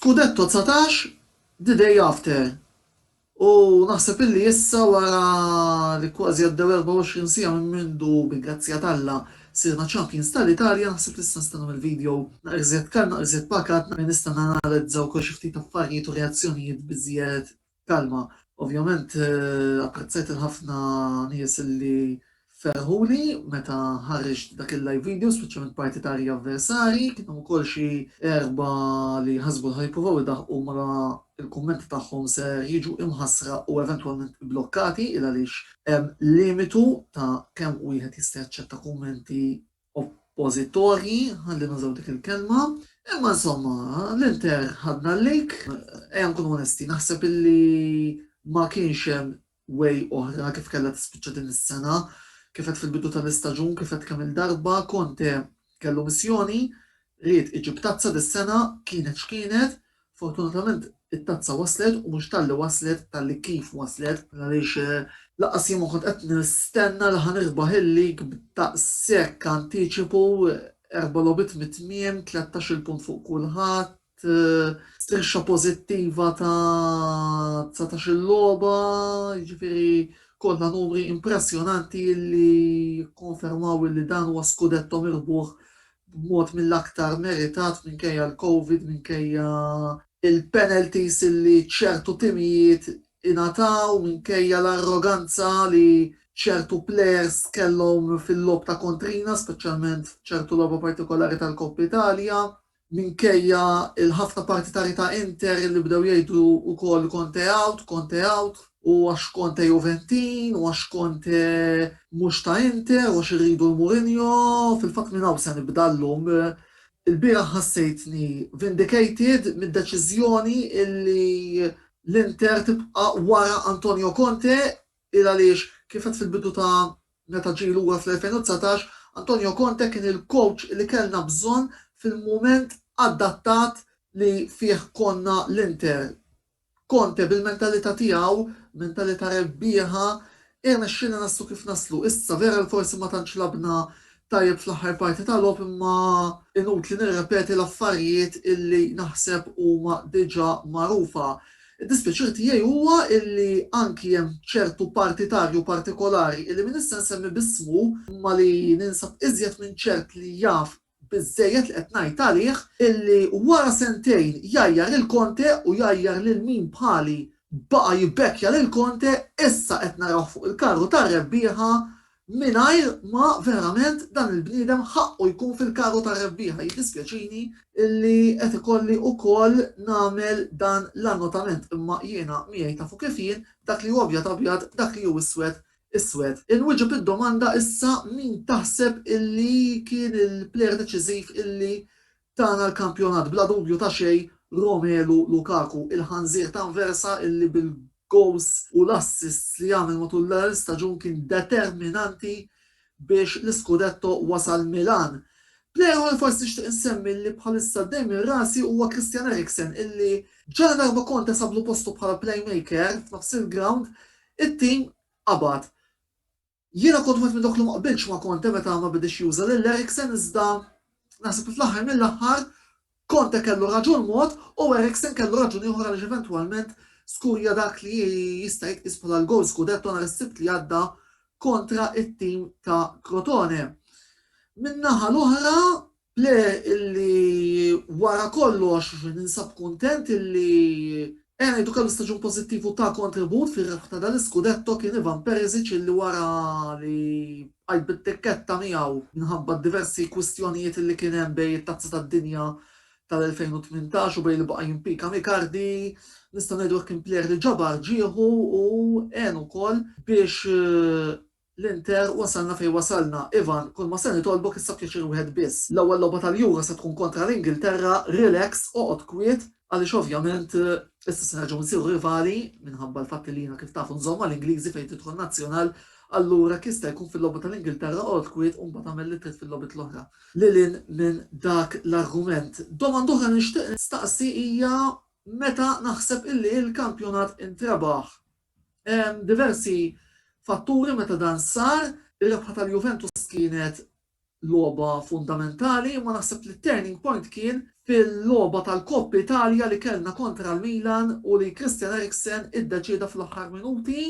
Scudetto 19 The Day After. U naħseb illi issa wara li kważi għaddew 24 sija minn mindu bi grazzja talla sirna champions tal-Italja naħseb li issa nistennu mill-video naqriżjed kal naqriżjed pakat naqri nista' nanalizza wkoll xi ftit affarijiet u reazzjonijiet biżjed Kalma, Ovvjament apprezzajt il-ħafna nies li ferħuli meta ħarriġt dak il-live video, speċjalment parti ta' Arja Avversari, kien hemm ukoll xi erbgħa li ħasbu li ħa jippruvaw idaħħqu mara l-kummenti tagħhom ser jiġu imħassra u eventwalment ibblokkati il għaliex hemm limitu ta' kemm wieħed jista' jaċċetta kummenti oppożitorji, ħalli nużaw dik il-kelma. Imma insomma, l-Inter ħadna l-lejk, ejja nkunu onesti, naħseb illi ma kienx hemm way oħra kif kellha tispiċċa din is-sena, kif qed fil-bidu tal-istaġun, kif qed kemm il-darba, Conte kellu missjoni, ried iġib tazza dis-sena, kienet x'kienet, Fortunatament it-tazza waslet u mhux talli waslet talli kif waslet għaliex lanqas jien ma kont qed nistenna li ħa nirbaħ il-lig b'daqshekk antiċipu, erba' logħbiet mit-tmiem, tlettax-il punt fuq kulħadd, strixxa pożittiva ta' dsatax-il logħba, jiġifieri kollha numri impressjonanti li jikkonfermaw li dan huwa skudetto mirbuħ b'mod mill-aktar meritat minkejja l-Covid, minkejja l-penalties li ċertu timijiet ingħataw, minkejja l-arroganza li ċertu plejers kellhom fil-logħob ta' kontrina, speċjalment f'ċertu logħba partikolari tal-Coppa Italia, minkejja l-ħafna partitari ta' Inter li bdew jgħidu wkoll Conte out, Conte out. u għax Conte Juventin, u għax Conte mhux ta' Inter, u għax irridu l-Mourinho, fil-fatt minn hawn se nibda llum. Ilbieraħ ħassejtni vindicated mid-deċiżjoni illi l-Inter tibqa' wara Antonio Conte, il għaliex, kif għedt fil-bidu ta' meta ġie lura fl-2019, Antonio Conte kien il-coach li kellna bżonn fil-mument adattat li fih konna l-Inter. Conte bil-mentalità tiegħu, mentalità rebbieħa, irnexxielna naslu kif naslu. Issa, vera li forsi ma tantx lagħbna tajjeb fl-aħħar parti ta' logħob imma inutli nirrepeti l-affarijiet illi naħseb huma diġà magħrufa. Id-dispjaċir tiegħi huwa illi anki hemm ċertu partitarju partikolari illi min issa nsemmi b'ismu imma li ninsab iżjed minn ċert li jaf Biżżejjed li qed ngħid għalih illi wara sentejn jgħajjar lil Conte u jgħajjar lil min bħali baqa' jibbekkja lil Conte, issa qed narawh fuq il-karru tar-rebbieħa mingħajr ma verament dan il-bniedem ħaqqu jkun fil-karru tar-rebbieħa. Jiddispjaċini illi qed ikolli ukoll nagħmel dan l-annotament imma jiena miegħi tafu kif jien, dak li hu abjad abjad, dak li hu iswed Iswed, inwieġeb id-domanda issa min taħseb illi kien il-player deċiżiv illi tana l-kampjonat, bla dubju ta' xejn Romelu Lukaku, il-ħanżir t'Anversa illi bil-gowls u l-assists li għamel matul l-staġun kien determinanti biex l-iskudetto wasal Milan. Player ieħor li forsi nixtieq insemmi li bħalissa dejjem minn rasi huwa Christian Eriksen illi ġaladarba Conte sablu postu bħala playmaker f'nofs il-grawnd It-tim qabad. Jiena kont wieħed minn dawk li ma qbiltx ma' Conte meta ma bedex juża lil Eriksen iżda naħseb li fl-aħħar mill-aħħar Conte kellu raġun mod u Eriksen kellu raġun ieħor għaliex eventwalment skurja dak li jista' jitqies bħala l-gowl scudetto nhar is-Sibt li għadda kontra t-tim ta' Crotone. Min-naħa l-oħra Le illi wara kollox ninsab kuntent illi ejja ngħidu kellu staġun pożittiv u ta kontribut fir-rebħ ta' dan l-iskudetto kien Ivan Perisic illi wara li bqajt bit-tikketta miegħu minħabba d-diversi kwistjonijiet illi kien hemm bejn it-Tazza tad-Dinja tal-2018 u bejn li baqa' jimpika m' Icardi nistgħu ngħidu hekk kien plejer li ġabar ġieħu u għenu wkoll biex L-Inter, wasalna fejn wasalna. Ivan, kull ma se nitolbok issa pjaċir wieħed biss. L-ewwel logħba tal-Euro se tkun kontra l-Ingilterra, relax, oqgħod kwiet, għaliex ovvjament issa se nerġgħu nsiru rivali, minħabba l-fatt li jiena kif taf nżomm mal-Ingliżi fejn tidħol Nazzjonal, allura hekk jista' jkun fil-logħba tal-Ingilterra oqgħod kwiet u mbagħad agħmel li trid fil-logħbiet l-oħra. Lil hinn minn dak l-argument, domanda oħra li nixtieq nistaqsi hija meta naħseb illi l-kampjonat intrebaħ? Hemm diversi fatturi meta dan sar. Ir-rebħa tal-Juventus kienet logħba fundamentali imma naħseb li t-turning point kien fil-logħba tal-Coppa Italia li kellna kontra l-Milan u li Christian Eriksen iddeċieda fl-aħħar minuti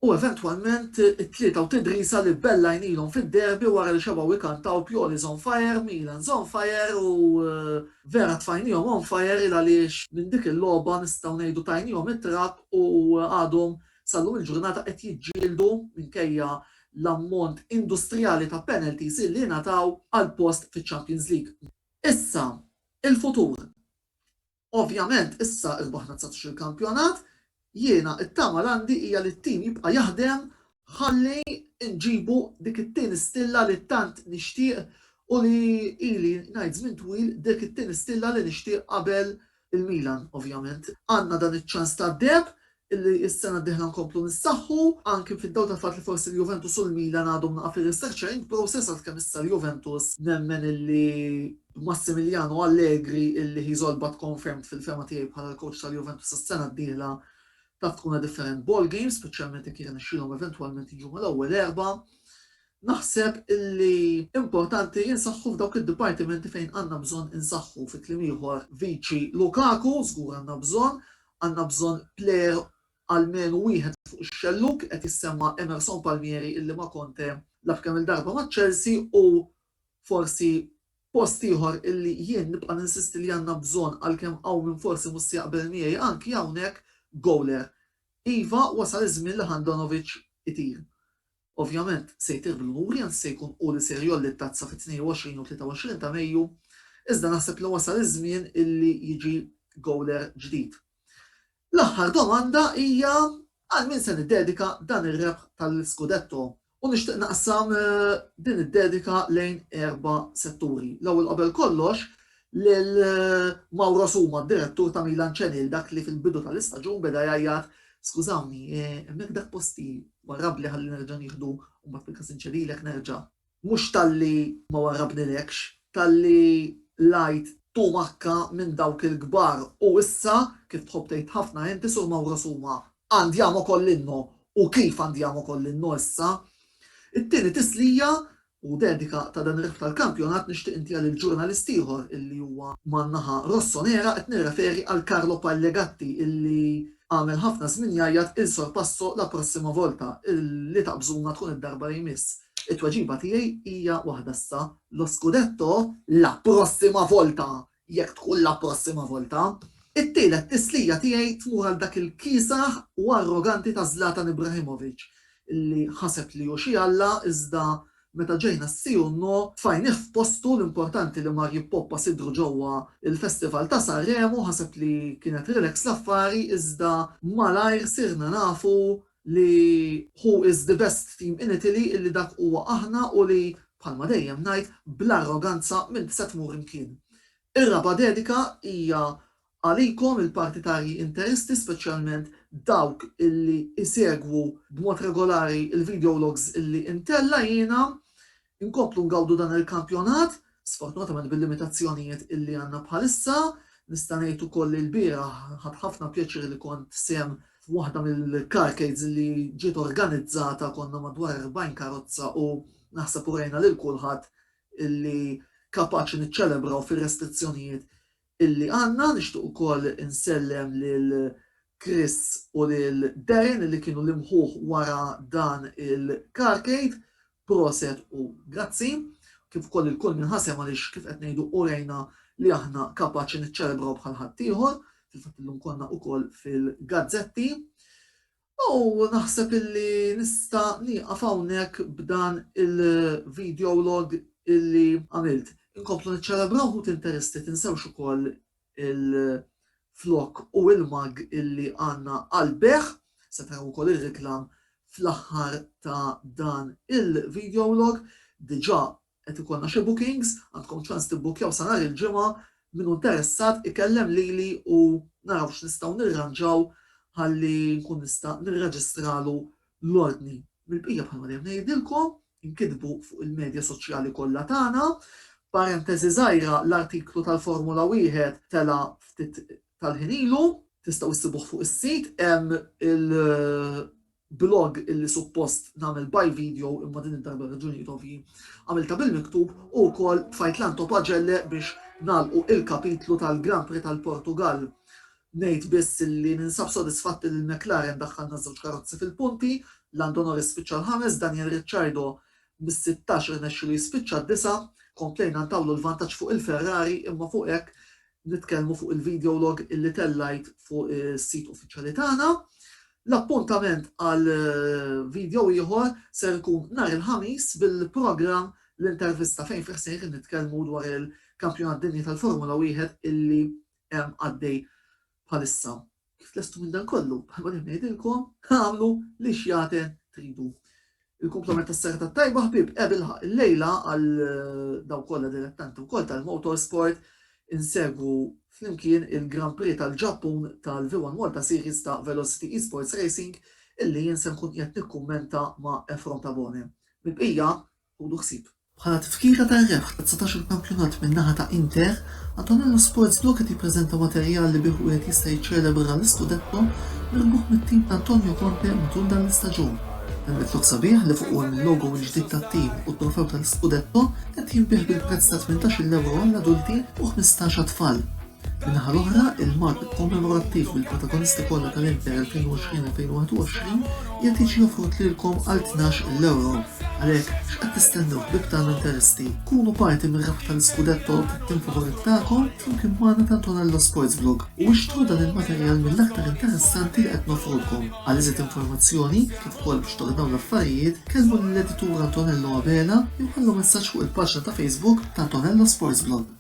u eventwalment it-tlieta u t-tdrisa li bellajnilhom fid-derby wara li xebgħu jkantaw Pioli's on fire, Milan's on fire u Vera tfajnihom on fire il għaliex minn dik il-logħba nistgħu ngħidu tajnihom it-trakk u għadhom sal-lum il-ġurnata qed jiġġieldu minkejja l-ammont industrijali ta' penalties illi ingħataw għall-post fiċ-Champions League. Issa, il-futur. Ovvjament issa rbaħna dsatax-il kampjonat, Jiena t-tama l għandi hija li t-tim jibqa' jaħdem ħalli nġibu dik it-tieni stilla li tant nixtieq u li ili ngħid żmien twil dik it-tieni stilla li nixtieq qabel il-Milan ovvjament. Għandna dan iċ-ċans tad-deheb illi s-sena d-dieħla nkomplu nissaħħu, anki fid-dawl tal-fatt li forsi l-Juventus u l-Milan għadhom naqa' fir-restructuring process għalkemm issa l-Juventus nemmen illi Massimiliano Allegri illi he is all but confirmed fil-fehma tiegħi bħala l-coach tal-Juventus is-sena d-dieħla taf tkun a different ball game, speċjalment jekk jirnexxilhom eventwalment jiġu mal-ewwel erba'. Naħseb illi importanti insaħħu f'dawk id-dipartimenti fejn għandna bżonn insaħħu fi kliem ieħor viċi Lukaku żgur għandna bżonn, għandna bżonn plejer almenu wieħed fuq ix-xellug qed jissemma Emerson Palmieri illi ma' Conte lagħab kemm-il darba ma' Chelsea u forsi post ieħor illi jien nibqa' ninsisti li għandna bżonn għalkemm hawn min forsi mhux se jaqbel miegħi anki hawnhekk goaler. Iva wasal iż-żmien li Handanovic itir. Ovvjament se jtir bil-kburi anzi se jkun hu li ser jgħolli t-tazza fit-22 u 23 ta' Mejju iżda naħseb li wasal iż-żmien illi jiġi goaler ġdid. L-aħħar domanda hija għal min se niddedika dan ir-rebħ tal-Scudetto u nixtieq naqsam din id-dedika lejn erba' setturi. L-ewwel qabel kollox lil Mauro Suma, d-direttur ta' Milan Channel, dak li fil-bidu tal-istaġun beda jgħajjat Skużawni, hemmhekk dak posti warrabbli ħalli nerġa' nieħdu u mbagħad fil-każ inċedilek nerġa'. Mhux talli ma warrabnilekx, talli l-għajt tumakka minn dawk il-kbar u issa, kif tħobb tgħid ħafna inti, Sur Mauro Suma, andiamo con l'inno u kif andiamo con l'inno issa? It-tieni tislija u dedika ta' dan ir-rebħ tal-kampjonat nixtieq intiha lil ġurnalist ieħor illi huwa man-naħa Rossonera, qed nirreferi għal Carlo Pagliagatti illi Għamel ħafna żmien jgħajjat il sorpasso la prossima volta li taqbżuna tkun id-darba li jmiss. It-tweġiba tiegħi hija waħda issa, lo scudetto la prossima volta jekk tkun la prossima volta. It-tielet tislija tiegħi tmur għal dak il-kiesaħ u arroganti ta' Zlatan Ibrahimovic li ħaseb li hu xi alla iżda Meta ġejna s-si u n-no tfajnih f'postu, l-importanti li mar jippoppa sidru ġewwa l-festival ta' Sanremo, ħaseb li kienet relax l-affari iżda malajr sirna nafu li who is the best team in Italy illi dak huwa aħna u li, bħalma dejjem ngħid, bl-arroganza m'int se tmur imkien. Ir-raba' dedika hija Għalikom il-partitarji interisti speċjalment dawk illi isegwu b'mod regolari l-videologs illi intella' jiena, inkomplu ngawdu dan il-kampjonat, sfortunatament bil-limitazzjonijiet illi għandna bħalissa, nista' ngħid ukoll li lbieraħ ħadt ħafna pjaċir li kont sehem f'waħda mill-carcades illi ġiet organizzata konna madwar 40 karozza u naħseb urejna lil kulħadd illi kapaċi niċċelebraw fir-restrizzjonijiet illi għandna. Nixtieq ukoll insellem lil Chris u lil Darren illi kienu l-imħuħ wara dan il-Carcade. Proset u grazzi. Kif ukoll lil kull min ħasem għaliex kif qed ngħidu urejna li aħna kapaċi niċċelebraw bħal ħaddieħor. Fil-fatt illum konna ukoll fil-gazzetti. U naħseb illi nista' nieqaf hawnhekk b'dan il-videolog illi għamilt. Inkomplu niċċelebraw ħut interesti tinsewx ukoll il-flokk u il-mug illi għandna għall-bejgħ, se taraw ukoll ir-reklam fl-aħħar ta' dan il-videolog, diġà Qed ikollna xi bookings, għandkom ċans tibbukkjaw sa nhar il-Ġimgħa, min hu interessat ikellem lili u naraw x'nistgħu nirranġaw ħalli nkun nista' nirreġistralu l-ordni. Mill-bqija bħalma dejjem ngħidilkom, inkitbu fuq il-medja soċjali kollha tagħna. Parenteżi żgħira, l-artiklu tal-Formula Wieħed tela' ftit tal-ħin ilu, tistgħu ssibuh fuq is-sit, hemm il- blog illi suppost nagħmel by video imma din id-darba għal raġunijiet ovvji għamiltha bil-miktub u wkoll tfajt l-anto pagelle biex nagħlqu il-kapitlu tal-Grand Prix tal-Portugall. Ngħid biss illi ninsab sodisfatt illi l-McLaren daħħalna ż-żewġ karozzi fil-punti, Lando Norris spiċċa l-ħames, Daniel Ricciardo mis-sittax irnexxielu jispiċċa d-disa', komplejna ntawlu l-vantaġġ fuq il-Ferrari imma fuq hekk nitkellmu fuq il-video log illi tellajt fuq is-sit uffiċjali tagħna. L-appuntament għal video ieħor ser ikun nhar il-Ħamis bil-programm L-Intervista fejn fih sejrin nitkellmu dwar il-Kampjonat Dinji tal-Formula Wieħed illi hemm għaddej bħalissa. Kif tlestu minn dan kollu, bħalma dejjem ngħidilkom, agħmlu li x'jagħten tridu. Il-kumplament tas-serata tajba ħbieb, ebilħaq il-lejla għal daw kollha dilettanti wkoll tal-motorsport insegwu flimkien il-Grand Prix tal-Ġappun tal-V1 Malta Series ta' Velocity Esports Racing illi jien se nkun qiegħed nikkummenta ma' Efrom Tabone. Mill-bqija, ħudu ħsieb. Bħala tifkira tar-rebħ ta' dsatax-il kampjonat min-naħa ta' Inter, Antonello Sports Blue qed jippreżenta materjal li bih wieħed jista' jiċċelebra l-iskudetto mirbuħ mit-tim ta' Antonio Conte matul dan l-istaġun. Dan it-tlokk sabiħ li fuqu hemm il-logo l-ġdid tat-tim u t-trofew tal-iskudetto qed jinbiegħ bil-prezz ta' tmintax-il ewro għall-adulti u ħmistax għat-tfal. Min-naħa l-oħra, il-Mart Kommemorattiv bil-protagonisti kollha tal-Inter 2020-2021 qiegħed jiġi offrut lilkom għal tnax l-ewro. Għalhekk, x'qed tistennew ħbieb tagħna Interisti? Kunu parti mir-rebħ tal-Scudetto tat-tim favorit tagħkom flimkien magħna ta' Antonello Sports Vlog u ixtru dan il-materjal mill-aktar interessanti li qed nofrulkom. Għal iżjed informazzjoni, kif ukoll biex tordnaw l-affarijiet, kellmu lill-editur Antonello Abela jew ħallu messaġġ fuq il-paġna ta' Facebook ta' Antonello Sports Vlog.